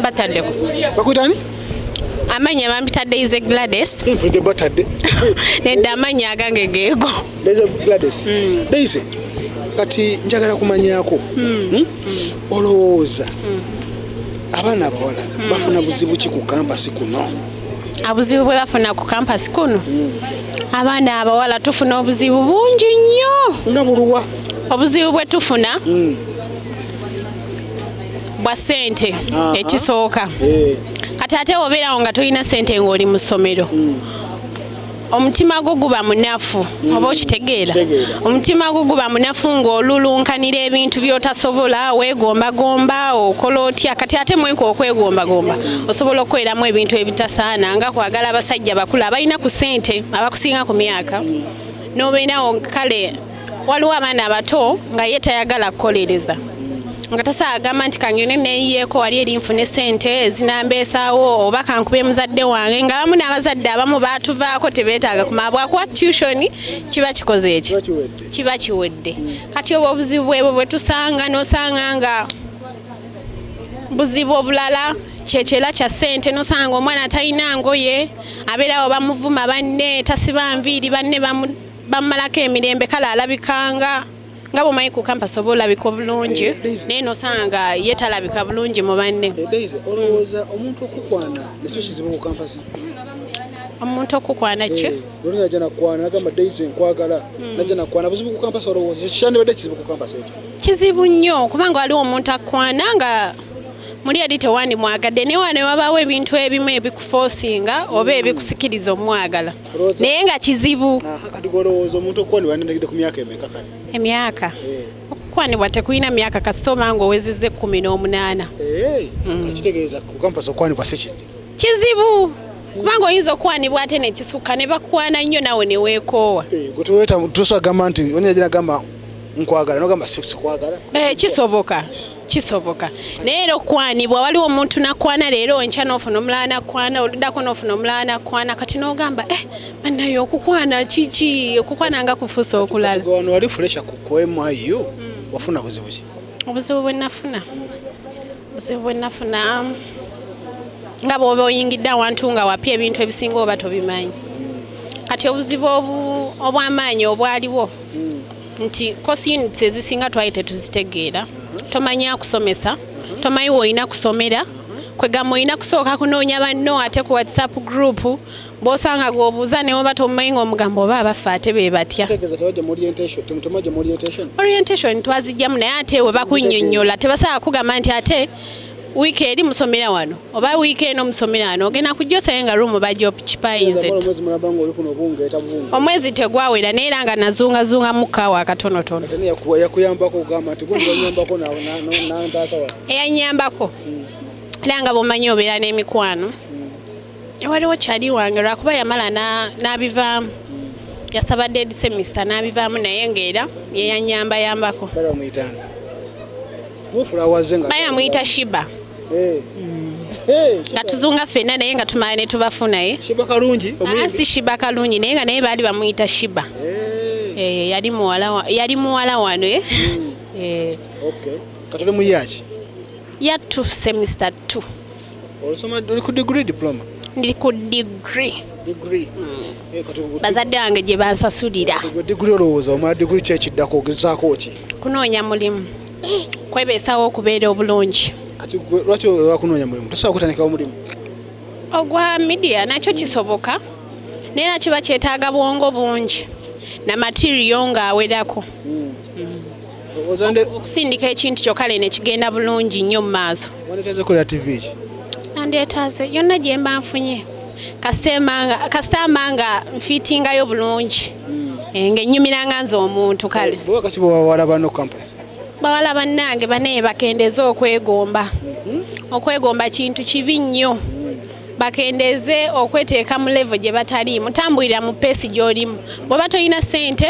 bataddeko bakuyitani amanya bampitadde ize glades mpulidde batadde nedda amanya agange geego leza glades mm. deise kati njagala kumanyako mm. hmm? mm. olowooza mm. abaana abawala mm. bafuna buzibu ki ku kampasi kuno abuzibu bwe bafuna ku kampasi kuno mm. abaana abawala tufuna obuzibu bungi nnyo nga buluwa obuzibu bwe tufuna mm. bwa sente ekisooka eh. kati ate obeerawo nga tolina sente ng'oli mu ssomero hmm. omutima gwo guba munafu hmm. oba okitegeera omutima gwo guba munafu ng'olulunkanira ebintu by'otasobola weegombagomba okola otya kati ate mwenka okwegombagomba osobola okukoleramu ebintu ebitasaana nga kwagala abasajja bakulu abalina ku sente abakusinga ku myaka hmm. n'obeerawo kale waliwo abaana abato nga ye tayagala kukolereza nga tasa agamba nti kangende neyiyeeko wali eri nfune sente ezinambeesawo oba kankube muzadde wange nga bamu n'abazadde abamu baatuvaako tebeetaaga kumala bwakuwa tushoni kiba kikoze eki kiba kiwedde kati obwo obuzibu bwebwo bwe tusanga n'osanga nga buzibu obulala kyekyela kya sente nosanga omwana talina ngoye abeerawo bamuvuma banne tasiba nviiri banne bamu bamumalako emirembe kale alabikanga nga bwomanyi ku kampasi oba olabika obulungi eh, naye nosanga ye talabika bulungi mu banne eh, olowooza omuntu okukwana nekyo kizibu ku kampasi omuntu okukwana ki eh, oli naja nakwana nagamba daisy nkwagala hmm. naja nakwana buzibu ku kampasi olowooza ekikyandibadde kizibu ku kampasi ekyo kizibu nnyo kubanga waliwo omuntu akwana nga muli eri tewandimwagadde newa ne wabaawo ebintu ebimu ebikufosinga oba ebikusikiriza omwagala naye nga kizibu kati golowooza omuntu okukwanibwa yanenegedde ku myaka emeka kale emyaka eh. okukwanibwa tekulina myaka kasita oba nga owezezza ekkumi n'omunaana eh, mm. kitegeeza kukampasa okukwanibwa si kizibu kizibu kubanga oyinza okukwanibwa ate nekisukka ne bakwana nnyo nawe neweekoowa eh, gwe teweta tusa agamba nti onyagira agamba nkwagala nogamba sikwagala eh, kisoboka kisoboka naye era okukwanibwa waliwo omuntu nakwana leero enkya nofuna omulala nakwana oludako nofuna omulala nakwana kati nogamba eh, banaye okukwana kiki okukwana nga kufusa okulala wano wali fulesha kukwemu ayo hmm. wafuna buzibu ki obuzibu bwenafuna obuzibu bwe nafuna nga bwoba oyingidde awantu nga wapya ebintu ebisinga oba tobimanyi kati obuzibu obw'amaanyi obwaliwo nti kosi units ezisinga twali tetuzitegeera tomanyi akusomesa tomanyi woolina kusomera kwegamba olina kusooka kunoonya banno ate ku whatsapp group bwosanga gwobuuza newoba tomumanyi ngaomugambo oba abaffe ate be batya orientation twazijjamu naye ate we bakunyonyola tebasobola kugamba nti ate wiiki eri musomera wano oba wiiki eno musomera wano ogenda kujja osaye nga ruumu bajja okipayinze omwezi tegwawera naye era nga nazungazunga mukaawo akatonotono eyanyambako hmm. era nga bwomanyi obeera n'emikwano waliwo kyali wange lwakuba yamala n'abivaamu yasaba dead semester n'abivaamu naye ng'era yeyanyambayambako baya muyita shiba eh. nga tuzunga fena naye nga tumala ne tubafu naye ah, si shiba kalungi naye nga naye baali bamuyita shiba eh. Eh, yali muwala wano hmm. yattu semester two Olusoma uli ku degree diploma? Ndi ku degree. Degree. Mm. Eh, Bazadde bange gye bansasulira. Degree olowooza omala degree ki ekiddako ogezaako ki? Kunoonya mulimu. Kwebeesawo okubeera obulungi. Kati lwaki wakunoonya mulimu? Tosobola kutandikawo mulimu? Ogwa media nakyo kisoboka. Naye na kiba kyetaaga bwongo bungi na materiyo ng'awerako. Mm. okusindika ekintu kyokka leno ekigenda bulungi nnyo mu maaso nandyetaaze yonna gye mba nfunye kasitama nga nfiitingayo bulungi hmm. eh, ng'ennyumira nga nze omuntu kale bawala bannange banaye bakendeeze okwegomba hmm. okwegomba kintu kibi nnyo hmm. bakendeeze okweteeka mu levo gye bataliimu tambulira mu peesi gy'olimu bw'oba tolina ssente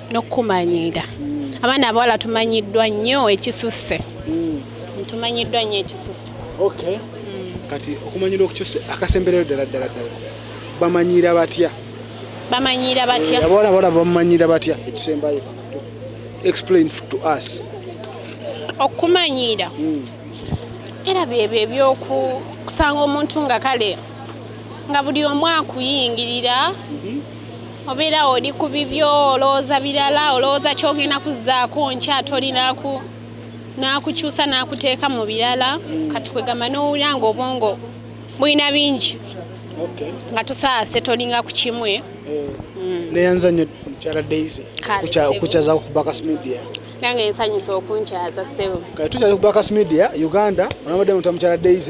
n'okukumanyiira abaana abawala tumanyiddwa nnyo ekisusse hmm. tumanyiddwa nnyo ekisusse okay hmm. kati okumanyira okukyusa akasemberero ddala ddala ddala bamanyiira batya bamanyiira batya eh, abawala abawala bamanyiira batya ekisembayo explain to us okumanyiira hmm. era byebyo ebyokusanga omuntu nga kale nga buli omu akuyingirira mhm. obeera oli ku bibyo olowooza birala olowooza kyogenda kuzzaako nkya tolinaku n'akukyusa n'akuteeka mu birala kati kwegamba n'owulira nga obwongo bulina bingi nga tosaase tolinga ku kimwe eh, mm. neyanza nyo mukyala daisy okukyaza ku bakas media nange nsanyusa okunkyaza sebo kati tukyali ku bakas media uganda onabadde muta mukyala daisy